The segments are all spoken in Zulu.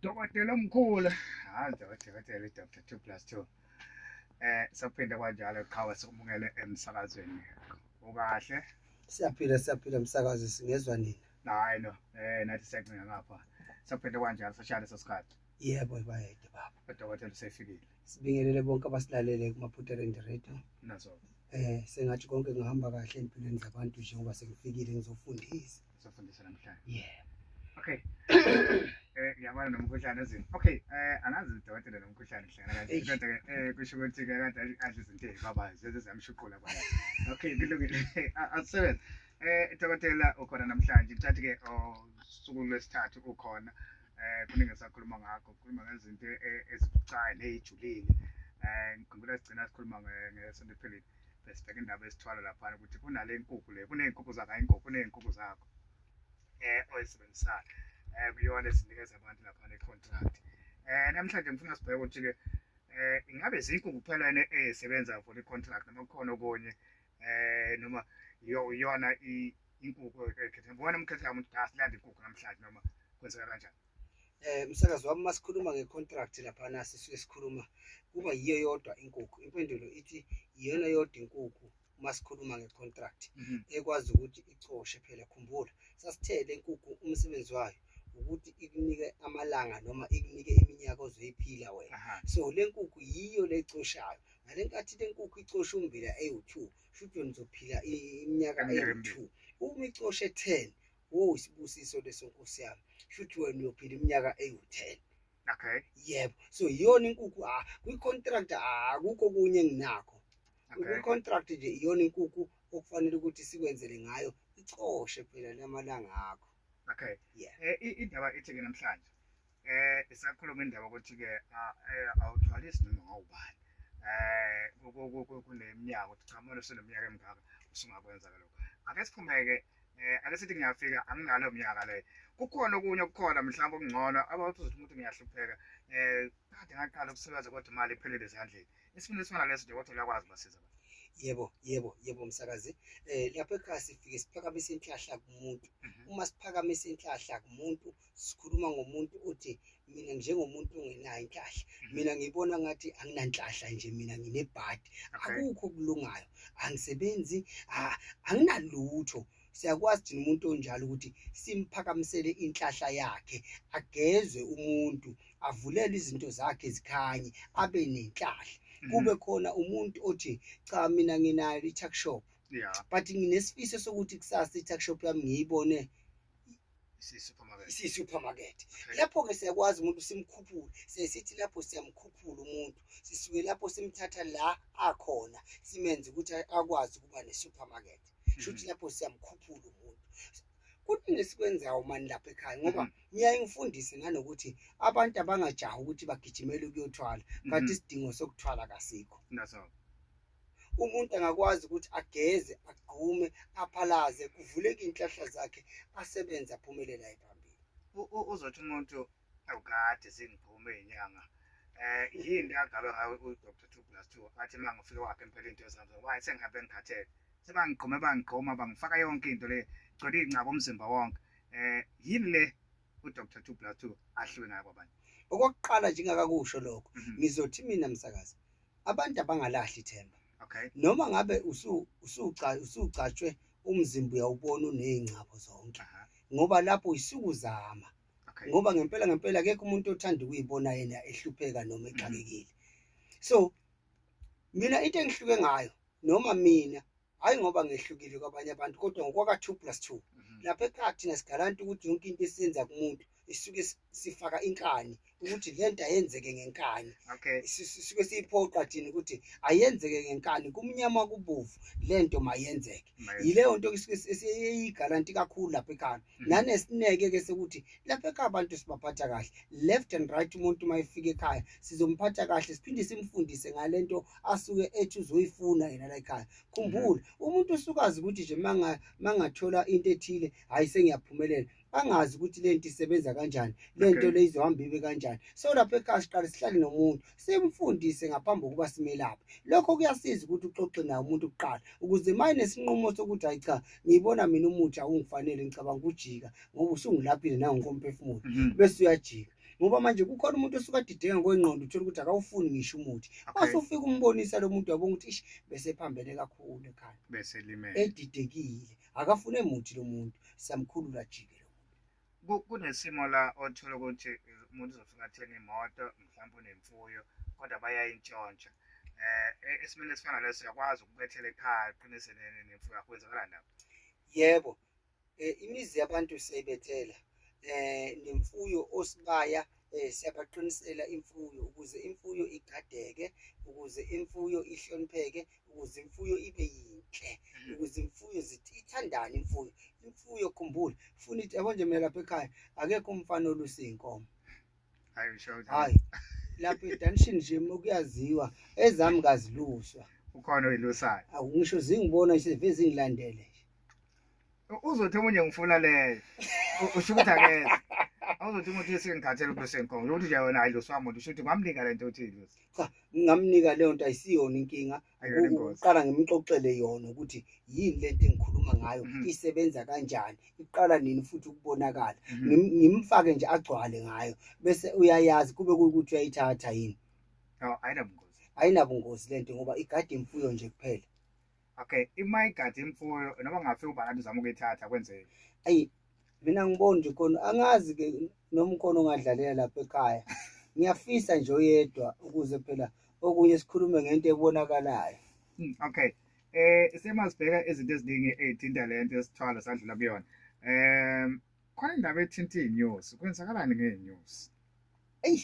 Dokotela omkhulu. Hayi dokotela Dr. 2 plus 2. Eh saphinda kwanjalo qhawe sikumukele emsakazweni. Ukahle? Siyaphila siyaphila msakazi singezwa nini? Hayi no. Eh nathi siyacinga ngapha. Saphinda kwanjalo sashaya leso sikhathi. Yebo bayede baba. Dokotela usefikile. Sibingelele bonke abasilalele kumaphutha le radio. Nazo. Eh sengathi konke ngihamba kahle empilweni zabantu njengoba sengifikile ngizofundisa. Safundisa namhlanje. Yeah. Okay. Eh ngiyabona nomkhuhlane ezini. Okay, eh angazi udokotela nomkhuhlane hlangana kanjani. Eish. Kodwa ke eh kusho ukuthi ke kade adla izinto ezibabayo zeze zamshuqula kwaye. Okay, kulungile. A- Asebenze. Eh dokotela ukhona namhlanje. Thathi ke usuku lwesithathu ukhona. Eh kuningi sakhuluma ngakho, kukhuluma ngezinto eh, ezibucayi nezijulile. Eh ngikhumbula sigcina sikhuluma nge- ngesonto ephelile. besibheka indaba esithwala laphana ukuthi kunale nkukhu le kuney'nkukhu zakho hayi inkukhu kuney'nkukhu zakho um oyisebenzisayo um kuyona esinikeza abantu laphana i-contract um namhlanje ngifuna sibheke ukuthi-ke um ingabe zinkukhu kuphela yena ezisebenza for i-contract noma kukhona okunye um noma iyona inkukhu ekhetha ngibona umkhetha kamuntu kasilanda inkukhu namhlanje noma kwenzeka kanjani eh msakazi wami masikhuluma ngecontract laphana sisuke sikhuluma kuba yiyo yodwa inkukhu impendulo ithi iyona yodwa inkukhu masikhuluma ngecontract mhm. ekwazi ukuthi icoshe phela khumbula sasithele inkukhu umsebenzi wayo ukuthi ikunike amalanga noma ikunike iminyaka ozoyiphila wena so le nkukhu yiyo lecoshayo ngale nkathi le nkukhu icosha umbila ewu-two shuthi wena uzophila iminyaka ewu-two uma icoshe ten wo isibusiso leso nkosi yami shuthi wena uyophila iminyaka eyiwu-ten okay yebo so iyona inkukhu ha ah, kwi-contract akukho ah, kunye enginakho kwi-contract nje iyona inkukhu okufanele ukuthi sikwenzele ngayo icoshe phela lamalanga akho okay yeah eh, indaba ethi-ke namhlanje eh isakhuluma indaba ukuthi ke eh, awuthwalisi noma ngawubani eh kunemnyaka ukuthi cha manje useneminyaka emingaka usungakwenza ke lokho ake siphumeke eh ake sithi ngiyafika anginalo mnyaka le kukhona okunye okukhona mhlawumbe okungcono abathi uzothi umuntu ngiyahlupheka eh kade ngaqala ukusebenza kodwa imali iphelele ezandleni isifuna esifana leso nje kodwa uyakwazi basiza abantu yebo yebo yebo msakazi eh lapho ekhaya sifike siphakamisa inhlahla kumuntu mhm. uma siphakamisa inhlahla kumuntu sikhuluma ngomuntu othi mina njengomuntu ongenayo inhlahla mhm. mina ngibona ngathi anginanhlahla nje mina nginebhadi akukho kulungayo angisebenzi anginalutho siyakwazi thina umuntu onjalo ukuthi simphakamisele inhlahla yakhe agezwe umuntu avulele izinto zakhe zikhanye abe nenhlahla mhm. kube khona umuntu othi cha mina nginayo i-tuck shop yeah. but nginesifiso sokuthi kusasa i-tuck shop yami ngiyibone Isiyi-supermarket. Isiyi-supermarket. Okay. Lapho-ke siyakwazi umuntu simkhuphule. Sesithi lapho siyamkhuphula umuntu. Sisuke lapho simthatha la akhona simenze ukuthi akwazi ukuba ne-supermarket. Mhm. Shuthi lapho siyamkhuphula umuntu. Kuningi esikwenzayo mani lapha ekhaya ngoba mhm. ngiyaye ngifundise nanokuthi abantu abangajahi ukuthi bagijimele ukuyothwala kanti mhm. isidingo sokuthwala kasikho. That's all. umuntu angakwazi ukuthi ageze agqume aphalaze kuvuleke inhlahla zakhe asebenze aphumelela ephambili uzothi umuntu awukade sengigqume inyanga eh yini akabe ngawe u Dr 2 plus 2 athi mangifike wakhe impela into esambe why sengihambe ngikhathele sebangigqome bangigqoma bangifaka yonke into le gcwele ingcaba umzimba wonke eh yini le u Dr 2 plus 2 ahluke ngayo kwabantu okokuqala njengakakusho lokho mhm. ngizothi mina msakazi abantu abangalahli ithemba okay noma ngabe usu usuca usucatshwe umzimba uyawubona unezingcabo zonke ngoba lapho isukuzama okay ngoba ngempela ngempela akekho umuntu othanda ukuyibona yena ehlupheka noma exakekile so mina into engihluke ngayo noma mina hhayi ngoba ngehlukile kwabanye abantu kodwa ngokwaka-two plus two mhm. lapha ekhaya thina sigalanti ukuthi yonke into esiyenza kumuntu isuke sifaka inkani ukuthi le nto ayenzeke ngenkani sisuke siyiphoqa thina ukuthi ayenzeke ngenkani kumnyama kubovu le nto mayenzeke yileyo nto esiyigalanti kakhulu lapha ekhaya Mhm. nanesineke ke sokuthi lapha ekhaya abantu sibaphatha kahle left and right umuntu uma efika ekhaya sizomphatha kahle siphinde simfundise ngale nto asuke ethi uzoyifuna yena la ekhaya khumbula mhm. umuntu usukazi ukuthi nje mangathola into ethile hhayi sengiyaphumelela angazi ukuthi le nto isebenza kanjani le nto le izohamba ibe kanjani so lapha ekhaya siqale sihlale nomuntu simfundise ngaphambi kokuba simelaphe lokho kuyasiza ukuthi uxoxe naye umuntu kuqala ukuze uma enesinqumo sokuthi hayi cha ngiyibona mina umuthi awungifanele ngicabanga ukujika ngoba usungulaphile nangokomphefumulo mhm. bese uyajika ngoba manje kukhona umuntu osuke adideka ngokwengqondo uthole ukuthi akawufuni ngisho umuthi base ufike umbonisa lo muntu wabonga ukuthi ishi bese ephambene kakhulu ekhanda bese limele edidekile akafune muthi lo muntu siyamkhulula jike kunesimo la othola ukuthi umuntu uzofika atheni imoto mhlawumbe unemfuyo kodwa bayayintshontsha eh e-, esimeni esifana leso uyakwazi ukubethela ekhaya qinise nemfuyo yakho kwenzakala ndaba yebo eh, imizi yabantu siyayibethela eh nemfuyo osibaya eh siyabaqinisela imfuyo ukuze imfuyo igadeke ukuze imfuyo ihlonipheke ukuze imfuyo ibe yinhle mm. ukuze imfuyo zithi ithandane imfuyo imfuyo khumbula funa ithi yabo nje mina lapha ekhaya akekho umfana olusa iy'nkomo hayi lapha edanishini nje kuyaziwa ezami kaziluswa ukhona oyilusayo awu ngisho zingibona nje veze ngilandele uzothi omunye ngifuna leyo usho ukuthi akeze awuzothi umuntu esengikhathele ubuso enkongo lokuthi nje wena hayi losi wamuntu usho ukuthi ngamnika le nto othile losi cha ngingamnika leyo nto ayisiyona inkinga uqala ngimxoxele yona ukuthi yini le nto engikhuluma ngayo mhm. isebenza kanjani iqala nini futhi ukubonakala mhm. ngimfake nje agcwale ngayo bese uyayazi kube kuyukuthi uyayithatha yini ayinabungozi ayinabungozi le nto ngoba igade imfuyo nje kuphela okay ima igadi imfuyo noma ngafika ubhalani uzama ukuyithatha kwenzeke ayi mina ngibona nje khona angazi ke noma ukhona ongadlalela lapha ekhaya ngiyafisa nje oyedwa ukuze phela okunye sikhulume ngento ebonakalayo hmm, okay eh semasibheka izinto eziningi ezithinta le nto esithwala sadlula kuyona um khona indaba ethinta iy'nyosi kwenzakalani ngey'nyosi eyi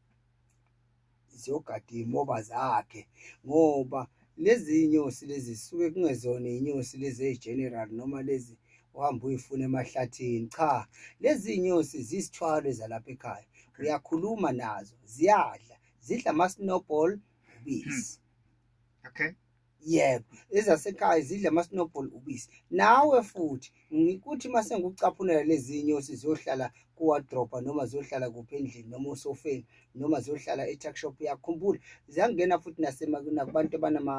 ziyogada iy'moba zakhe ngoba lezi nyosi lezi suke kungezona iy'nyosi lezi eyi-general noma lezi uhamba uyifuna emahlathini cha lezi iy'nyosi zisithwalo ezalapha ekhaya uyakhuluma nazo ziyadla zidla ama-snowball ubisi hmm. okay yebo ezasekhaya zidla ama-snowball ubisi nawe futhi ngikuthi uma sengucaphunela lezi nyosi ziyohlala kuwadropa noma ziyohlala kuphi endlini noma osofeni noma ziyohlala e-tuckshop yakho khumbula ziyangena futhi nakubantu abanama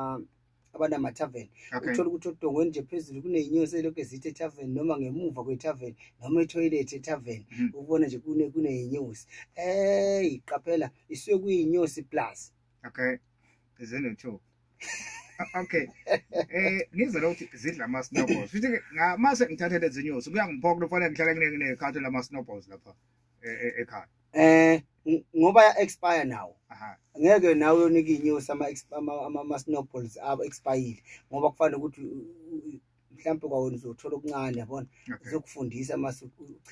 abanama-tarven okay. uthole ukuthi odongweni nje phezulu kuneyinyosi elokhu ezithe e-tarven noma ngemuva kwe-tarven noma ethoyilethi e-tarven mm -hmm. ukubona nje kuneyinyosi eyi qaphela isuke kuyinyosi plus okay zino two okay eh ngizwe ukuthi zidla ama snowballs futhi ngamase ngithathele izinyosi kuyangiphoka kufanele ngihlale nginekhathi lama snowballs lapha e, e, ekhaya eh ngoba ya expire now ngeke nawe uyonika inyosi ama ama snowballs abo expire ngoba kufanele ukuthi mhlawumbe kwawena uzothola okuncane yabona uzokufundisa uma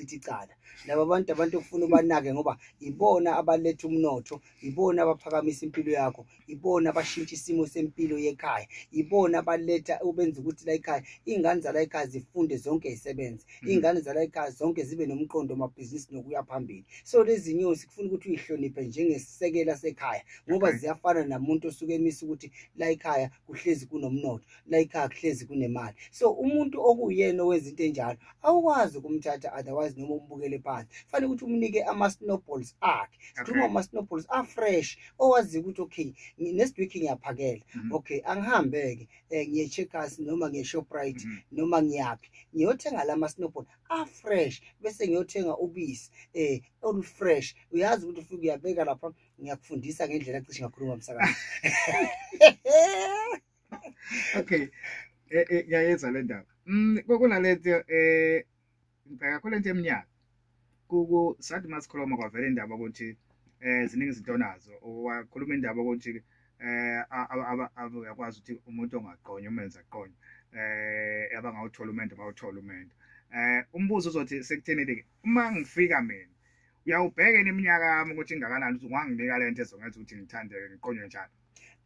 uchitha icala laba bantu abantu okufuna ubanake ngoba ibona abaletha umnotho ibona abaphakamisa impilo yakho ibona abashintsha isimo sempilo yekhaya ibona abaletha ubenza ukuthi la ekhaya iy'ngane zala ekhaya zifunde zonke zisebenze mm. iy'ngane zala ekhaya zonke zibe nomqondo wamabhizinisi nokuya phambili so lezi nyosi kufuna ukuthi uyihloniphe njengesisekela sekhaya ngoba ziyafana namuntu osuke emisa ukuthi la ekhaya kuhlezi kunomnotho la ikhaya kuhlezi kunemali so umuntu okuyena owezinto enjalo awukwazi ukumthatha otherwise noma umbukele phansi fanele ukuthi umnike ama-snowballs akhe sikhuluma okay. ama-snowballs afresh owaziyo ukuthi okay next week ngiyaphakela mm -hmm. okay angihambe-ke um eh, ngiye-checkers noma ngiye-shoprite mm -hmm. noma ngiyaphi ngiyothenga la ma-snowball afresh bese ngiyothenga ubisi um olufresh uyazi ukuthi ufike uyabeka lapha ngiyakufundisa ngendlela kucishe ngakhuluma msakazi okay eh, eh, ngiyayezwa le ndaba mm, kunalento um ngibheka khona into eminyaka sathi uma sikhuluma kwavela indaba ukuthi um ziningi izinto onazo wakhuluma indaba ukuthi um uyakwazi ukuthi umuntu ongaqonywa umenza aqonywa um abangawuthola umendo bawuthola umendo um umbuzo uzothi sekuthenile-ke uma ngifika mina uyawubheka iminyaka yami ukuthi ingakanani ukuthi unganginika le nto ezongenza ukuthi ngithandeke ngiqonywe njalo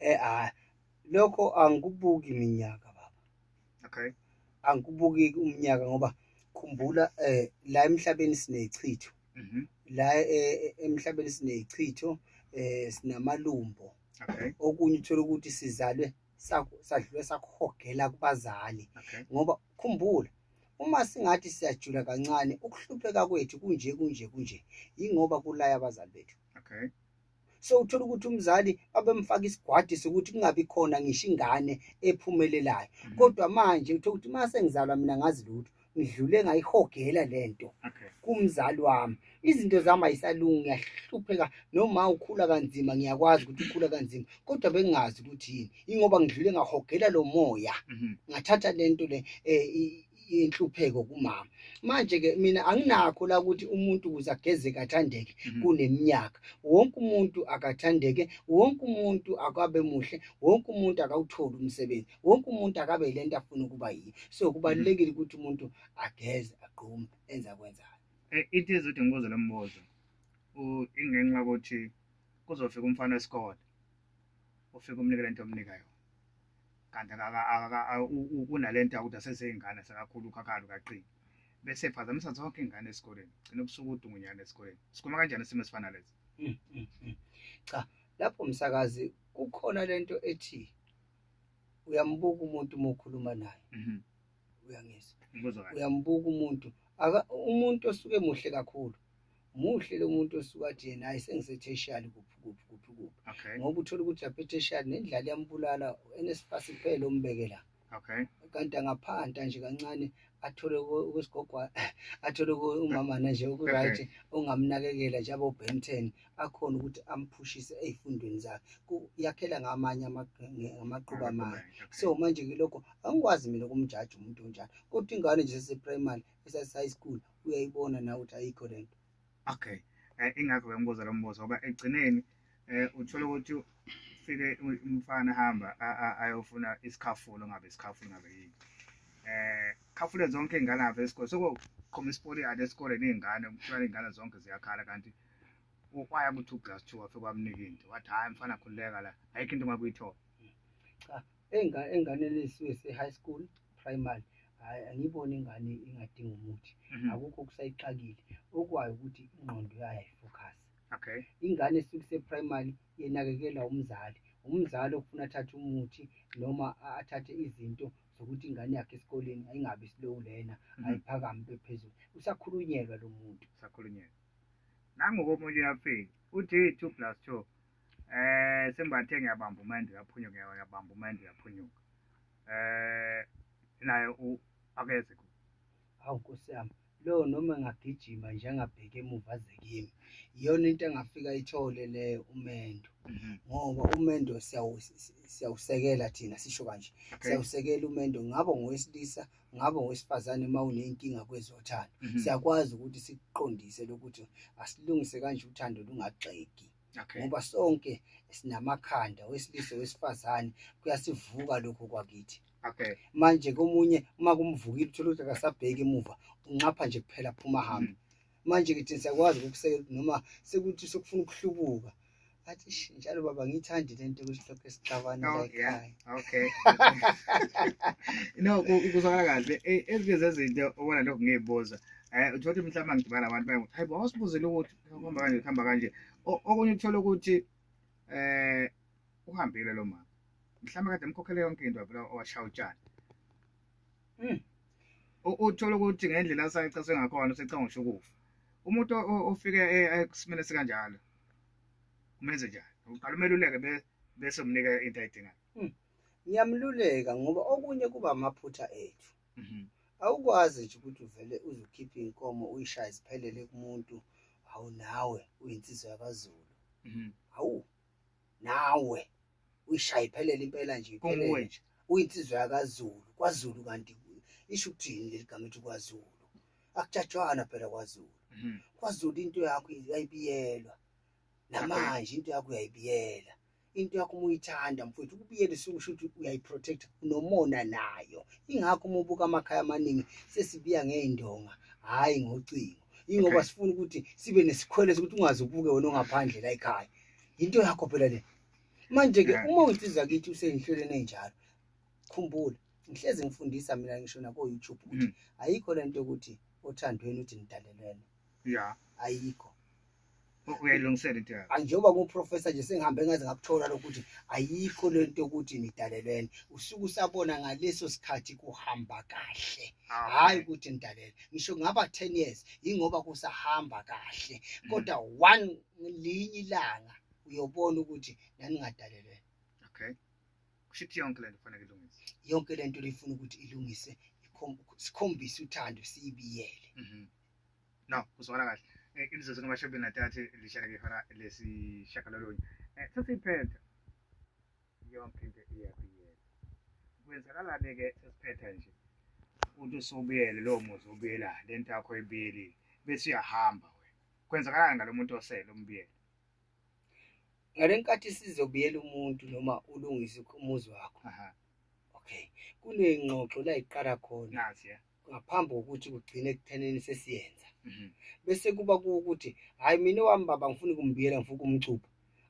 um lokho angikubuki minyaka baba okay angikubuki umnyaka ngoba khumbula eh la emhlabeni sinechitho mhm. la eh, eh, emhlabeni sinechitho eh sinamalumbo okay okunye uthola ukuthi sizalwe sadlule sakuhogela kubazali ngoba khumbula uma singathi siyajula kancane ukuhlupheka kwethu kunje kunje kunje yingoba kulaya abazali bethu okay so uthola ukuthi umzali babemfaka isigwadi sokuthi kungabi khona ngisho ingane ephumelelayo mm. kodwa manje uthola ukuthi uma sengizalwa mina ngazi lutho ngidlule ngayihogela le nto kumzali wami izinto zami ayisalungi ngiyahlupheka noma ukhula kanzima ngiyakwazi ukuthi ukhula kanzima kodwa bengingazi ukuthi yini ingoba ngidlule ngahogela lo moya mm-hmm. ngathatha le nto le um inhlupheko kumama manje ke mina anginakho la ukuthi umuntu ukuze ageze kathandeke Mhm. kuneminyaka wonke umuntu akathandeke wonke umuntu akabe muhle wonke umuntu akawutholi umsebenzi wonke umuntu akabe yile nto afuna ukuba yiyo so kubalulekile ukuthi umuntu ageze agqume enze akwenzayo Eh, it is ukuthi ngibuze lo mbuzo U- ingenxa yokuthi kuzofika umfana wesikole ufike umnike lento omnika yona kanti unalento yakuthi aseseyingane sekakhulu ukhakhalu kaqini bese phazamisa zonke ingane esikoleni gcina ubusuku udungunyana esikoleni sikhuluma kanjani isimo esifana lesi mm, mm, mm. cha lapho msakazi kukhona lento ethi uyambuka umuntu uma ukhuluma naye mhm. uyangizwa umbuzo kahle uyambuka umuntu aka umuntu osuke muhle kakhulu muhle lo muntu osuke athi yena hayi sengisetheshiyali kuphi kuphi kuphi kuphi okay ngoba uthola ukuthi lapha etheshiyali nendlala iyambulala enesifasi kuphela ombeke la okay kanti angaphanta nje kancane athole uku- ukusigogwa athole uku- umamana nje okuright ongamnakekela njengo Ben 10 akhona ukuthi amphushise ey'fundweni zakhe yakhela ngamanye amaqhuba amanye so manje ke lokho angikwazi mina ukumjaji umuntu onjalo kodwa ingane nje seseprimary esase-high school uyayibona nawe ukuthi ayikho le nto okay um ingakho bembuza lo mbuzo ngoba ekugcineni um uthole ukuthi ufike umfana hamba ayofuna isikhafulo ngabe isikhafulo ngabe yini eh khafule zonke ingane apha esikole sokuqhuma isipoliyane esikoleni iy'ngane kuthiwa iy'ngane zonke ziyakhala kanti ukwaya kuthi uGlass 2 wafe kwamnika into wathi hayi mfana khululeka la ayikho into ngakuyithola cha enga engane lesizwe se high school primary hayi angiboni ingane ingadinga umuthi mhm. akukho kusayixakile okwayo ukuthi ingqondo yayo ayifocus okay ingane esuke se primary yenakekela umzali umzali okufuna athathe umuthi noma athathe izinto zokuthi ingane yakhe esikoleni ayingabi slow lena mhm. ayiphakami bephezulu usakhulunyelwa lo muntu usakhulunyelwa nangokomunye uyafika uthi 2 plus 2 um eh, sembathe ngiyabamba umende uyaphunyuka uyabamba umende uyaphunyuka um naye akeze ku hawu nkosi yami lo noma engagijima nje angabheki emuva aze kimi iyona into engafika ithole leyo umendo mhm. ngoba umendo siyawusekela thina sisho kanje siyawusekela umendo ngabo ngowesilisa ngabe ngowesifazane uma unenkinga kwezothando Mhm. siyakwazi ukuthi sikuqondise lokuthi asilungise kanje uthando lungagxeki Okay. ngoba sonke sinamakhanda wesilisa wesifazane kuyasivuka lokho kwakithi Okay. manje komunye uma kumvukile uthole ukuthi akasabheki emuva unxapha nje kuphela phuma hambe manje-ke thina siyakwazi ukusekela ukuthi noma sekuthi sokufuna ukuhlubuka athi "Sh, njalo baba ngiyithandi le nto ukuthi lokho esixabana la Okay. ekhaya okay no ku- kuzwakala kahle Eh, ezinye zezinto obona lokhu ngiyibuza um uthola ukuthi mhlawumbe angigibala abantu baye hayi bo awusibuzile ukuthi kuhamba kanje kuhamba kanje O- okunye uthole ukuthi um uhambile lo mama mhlawumbe kade mkhokhele yonke into wavela owashaya utshani Hmm. Uthola ukuthi ngendlela asayicaswe ngakhona usecanga ngisho ukufa. Umuntu ofike e, e, esimene sikanjalo umenze njani? Uqala umeluleke bese umnika into ayidingayo. Hmm. Ngiyamluleka ngoba okunye kuba amaphutha ethu. Mhm. Awukwazi nje ukuthi uvele uzokhipha inkomo uyishaye ziphelele kumuntu awunawe uyinsizwa yakwaZulu. Mhm. Awu nawe uyishaye iphelele impela nje iphelele nje uyinsizwa yakazulu kwazulu kanti isho ukuthini leli gama ethi kwazulu akujatshwana phela kwazulu mhm. kwazulu into yakho yayibiyelwa namanje into yakho uyayibiyela into yakho uma uyithanda mfowethu ukubiyela isungisho ukuthi uyayiprotect unomona nayo ingakho uma ubuka amakhaya amaningi sesibiya ngey'ndonga hhayi ngocingo ingoba sifuna ukuthi sibe nesikhwele sokuthi ungaze ubuke wena ongaphandle la ekhaya yinto yakho phela le manje-ke yeah. uma uyinsiza kithi usenhlelweni enjalo khumbula ngihlezi ngifundisa mina ngisho nako-youtube ukuthi mm. ayikho le nto yokuthi othandweni uthi nidalelwene ya ayikho uyayilungisela into yakho njengoba kuprofessor nje sengihambe ngaze ngakuthola lokuthi ayikho le nto yokuthi nidalelwene usuke usabona ngaleso sikhathi kuhamba kahle ah, hhayi ukuthi nidalele ngisho ngaba ten years yingoba kusahamba kahle mm. kodwa one ngelinye ilanga uyobona ukuthi naningadalelwe okay kusho ukuthi yonke lento kufanele ilungiswe yonke lento lifuna ukuthi ilungiswe sikhombise uthando siyibiyele mhm. no kuzwakala kahle eh, imizuzu kamashobeni nathathe lishaleke ihora lesishagalolunye eh, sesiyiphetha yonke into iyabiyela kwenzakalani-ke sesiphetha nje uthi usubuyele lowo muzi ubuyela le nto yakho ibiyelile bese uyahamba wena kwenzakalani ngalo muntu osele umbiyela ngale nkathi sizobiyela umuntu noma ulungise umuzi wakho okay kuney'ngxoxo la iqala khona ngaphambi kokuthi kugcine ekutheneni sesiyenza mhm. bese kuba kuwukuthi hhayi mina wami baba ngifuna ukumbiyela ngifuna ukumcupha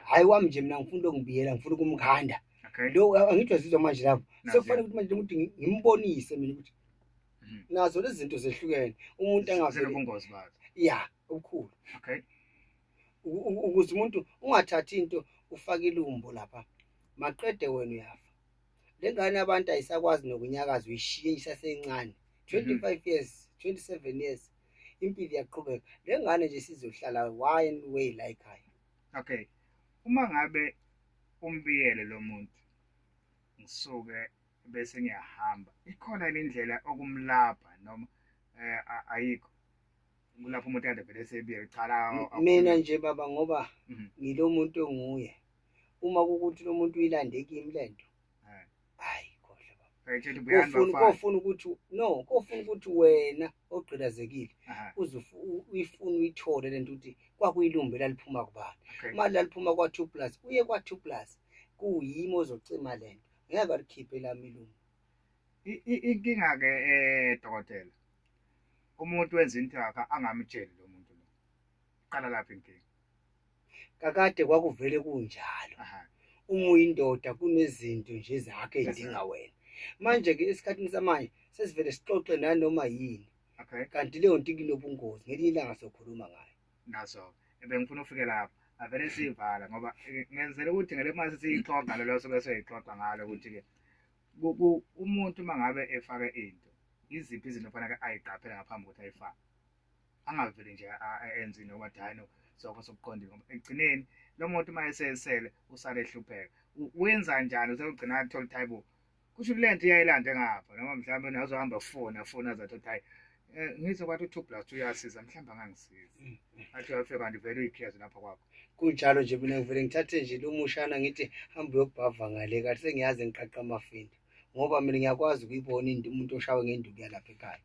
hhayi wami nje mina ngifuna ukumbiyela ngifuna ukumkhanda lo angithi wazizwa manje lapho sekufanele ukuthi manje ukuthi ngimbonise mina ukuthi Mhm. nazo lezi zinto zehlukene umuntu angavele Zinobungozi bazo. ya obukhulu Okay. Uku- uku- ukuze umuntu ungathathi into ufake ilumbo lapha maqede wena uyafa le ngane abantu ayisakwazi nokunyakaza uyishiye isasencane 25 years 27 years impilo iyaqhubeka le ngane nje sizohlala one way la ekhaya Okay. Uma ngabe umbiyele lo muntu ngisuke bese ngiyahamba ikhona indlela okumlapha noma eh ayikho kulapho umuntu ade vele sebiye qala mina nje baba ngoba mhm. ngilomuntu onguye uma ukuthi lomuntu uyilande kimi lento eh. hayi kodwa baba kofuna kofuna ukuthi no kofuna ukuthi wena ogqilazekile uze uyifuna uyithole lento ukuthi kwakuyilumbe laliphuma kubani mali laliphuma kwa 2 plus uye kwa 2 plus kuyimo ozocima lento ngeke balikhiphe lami ilungu inkinga ke eh dokotela umuntu wenza into yakhe angamtsheli lo muntu lo qala lapha inkinga kakade kwakuvele kunjalo uma uyindoda kunezinto nje zakhe edinga wena manje ke esikhathini samanje sesivele sixoxe nanoma yini kanti leyo nto ikunobungozi ngelinye ilanga sokhuluma ngayo nazo ebengifuna ufike lapho avele siyivala ngoba ngenzela ukuthi ngele uma sesiyixoxa lelo sobe seyixoxa ngalo ukuthi-ke umuntu uma ngabe efake into iziphi izinto faneke ayiqaphele ngaphambi kokuthi ayifake angaveli nje enze into yokuba dayino sokho sokuqondile ngoba ekugcineni lo muntu uma esesele usale ehlupheka wenza njani usegcina athole ukuthi hayibo kusho kule nto iyayilande ngapha noma mhlawumbe nazohamba fona fona zathi ukuthi hayi eh, ngizwe kwathi u-two plus two uyasiza mhlawumbe angangisiza mm, mm. athi uyafika kanti vele uyikhiyazi lapha kwakho kunjalo nje mina ngivele ngithathe nje lumushana ngithi hambe uyokubhava ngale kahle sengiyazi ngiqaqa amafinda ngoba mina ngiyakwazi ukuyibona umuntu oshawe ngenduku yalapha ekhaya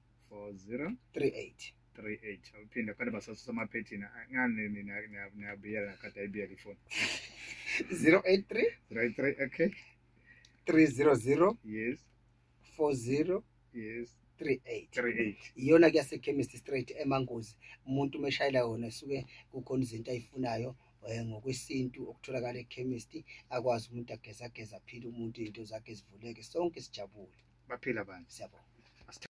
4038 38 awuphinde kade basasusa amaphethini ngani nina niyabiyela kade ayibiyela ifoni 083 083 okay 300 yes 40 yes 38 iyona kuyasekhemist straight emangozi umuntu umeshayela yona suke kukhona izinto ayifunayo eh, ngokwesintu okutholakala ekhemist akwazi umuntu ageza ageza aphile umuntu into zakhe zivuleke sonke sijabule baphila abantu siyabonga